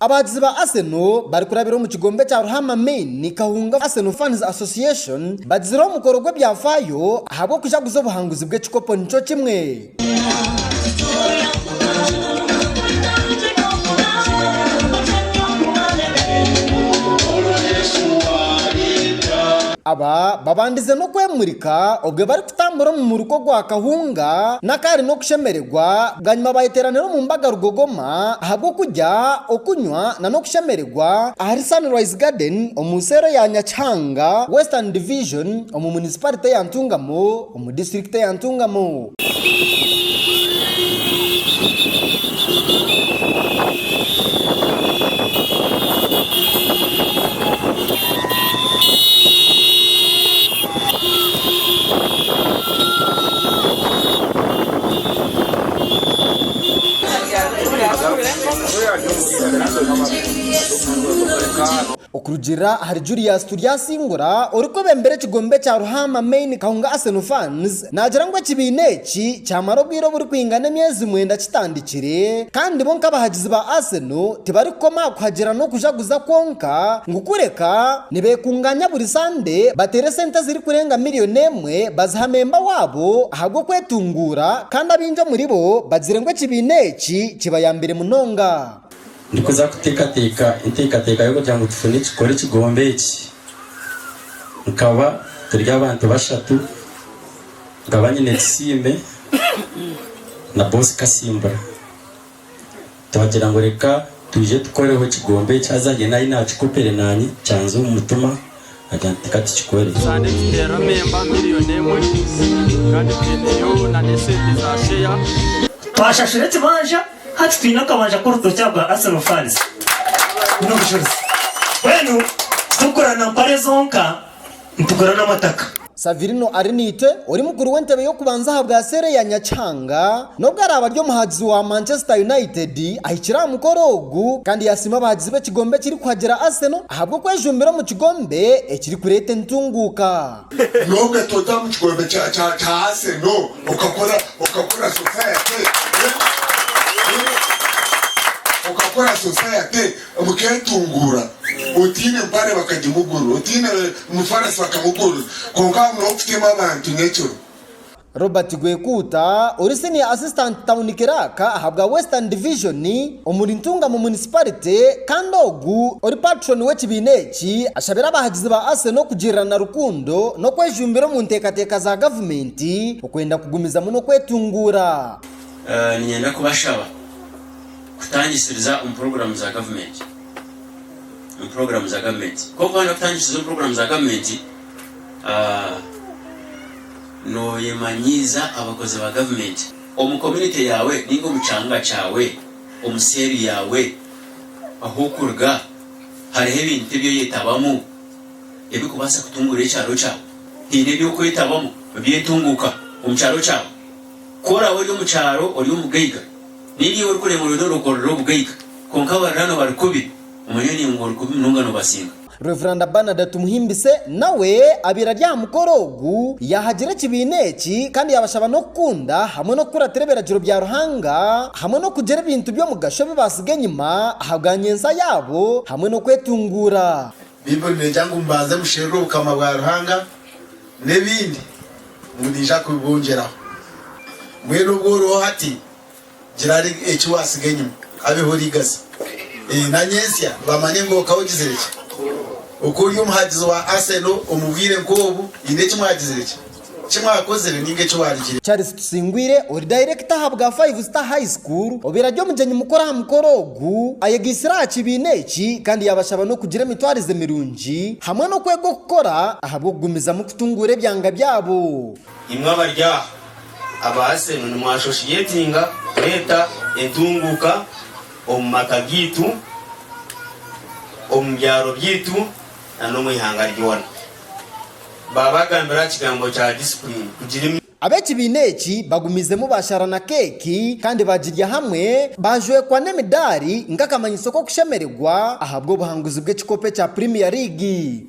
Abaagizi ba Arsenal barikurabira omu kigombe kya Ruhama Main Kahunga Arsenal Fans Association bagizire omukoro gw'ebyafaayo ahabw'okujaguza obuhanguzi bw'ekikopo nikyo kimwe. Aba babandize n'okwemurika obwe barikutambura omu muruka ogwa Kahunga n'akaari n'okushemererwa bwanyima bayeteranira omu mbaga Rugogoma. obushuma ahabw'okurya, okunywa na n'okushemererwa ahari Sunrise Garden omu seero ya Nyakihanga Western Division omu munisiparite ya Ntungamo omu disiturikiti ya Ntungamo. Okurugiirira ahari Julius Turyasingura orikwebembera ekigombe kya Ruhaama Main Kahunga Arsenal Fans naagira ngu ekibiina eki kyamara obwire oburikwingana emyezi mwenda kitandikire kandi bo nk'abahagizi ba Arsenal tibarikukoma aha kuhagira n'okujaguza kwonka ngu kureka nibekungaanya buri sande bateere sente ezirikurenga miriyoni emwe Abamwe baziha memba waabo ahabw'okwetunguura, kandi abaingi omuri bo bagire ngu ekibiina eki kibayambire munonga. Ndikuza kuteekateeka enteekateeka y'okugira ngu tufune ekikore ekigombe eki. Nkaba turi abantu bashatu, nkaba nyine Tusiime na Boss Kasimbura. Twagira ngu reka twije tukoreho ekigombe eki haza haine aine akikopere naanye kyanze omu mutima agira nti ka tukikore. Kandi tuteera memba miriyoni emwe kandi twineyo na n'esente za sheya. Twashashura ekibanja hati twine akabanja k'orutookye aha bwa Arsenal fans n'obucuruzi. Mbwenu titurikukora na mpare zonka. nitugura n'amataka. Savirino Ariniite, ori mukuru w'entebe y'okubanza aha bwa seera eya Nyakihanga, n'obu araabe ari omuhagizi wa Manchester United, ahikire aha mukoro ogu kandi yaasiima abahagizi b'ekigombe ekirikuhagira Arsenal ahabw'okwejumbira omu kigombe ekirikureeta entunguuka. Nyowe toza omu kigombe kya Arsenal okakora okakora society, okakora society. Bukeetunguura, otaine mpare bakagimugurira, otaine mufarasi bakamugurira, kwonka haagumireho kuteema abantu nyekiro. Robert Gwekuuta ori Senior Assistant Town Clerk ahabwa Western Division omuri Ntungamo Municipality kandi ogu ori Patron w'ekibiina eki ashabire abahagizi ba Arsenal kugirirana rukundo n'okwejumbira omu nteekateeka za gavumenti okwenda kugumizamu n'okwetunguura. Niinyenda kubashaba. Kutangisiriza omu puroguramu za gavumenti omu puroguramu za gavumenti kwonka waayenda kutangisiriza omu puroguramu za gavumenti nooyemanyiiza abakozi ba gavumenti omu komunite yaawe nainga omu kyanga kyaawe omu seeri yaawe ahu orikuruga hariho ebintu ebi oyetabamu ebirikubaasa kutunguura ekyaro kyaawe haine ebi orikwetabamu eby'entunguuka omu kyaro kyaawe ku oraabe ori omu kyaro ori omugaiga Ninga iwe orikureeba oriyo norokorora obugaiga, kwonka abariraanwa bari kubi, omanya niiwe ngu ori kubi munonga nobasinga. Reveranda Bernard Tumuhimbise nawe abaire ari aha mukoro ogu, yaahagira ekibiina eki kandi yaabashaba n'okukunda hamwe n'okukuratira ebiragiro bya Ruhanga hamwe n'okugira ebintu by'omugasho ebi baatsiga enyima ahabwa nyentsya yaabo hamwe n'okwetunguura. Baibuli neegya ngu mubanze musherure Obukama bwa Ruhanga n'ebindi ngu naija kubibongyeraho. Mbwenu obu oriho hati, gira eki waatsiga enyima habeho oriigaza. Ee, na nyentsya bamanye ngu okaba ogizire ki. Oku ori omuhagizi wa Arsenal omu bwire nk'obu, haine eki mwagizire ki? Ki Waakozire ninga Eki Waarugire? Charles Tusingwire ori dayirekita aha bwa Five Star High School obaire ari omugyenyi mukuru aha mukoro ogu, ayegaitsire aha kibiina eki kandi yaabashaba n'okugira emitwarize mirungi hamwe n'okwega okukora ahabw'okugumizamu kutunguura ebyanga byabo. Imwe abari aha, abaase ngu nimwashoshiyetinga kureeta entunguuka omu maka gaitu, omu byaro byaitu, na n'omu ihanga ryona. baabagambira aha kigambo kya disipulini kugira emi. Ab'ekibiina eki bagumiizemu baashara na keeki kandi baagirya hamwe, baajwekwa n'emidaari nk'akamanyiso k'okushemererwa ahabw'obuhanguzi bw'ekikopo ekya Premier League.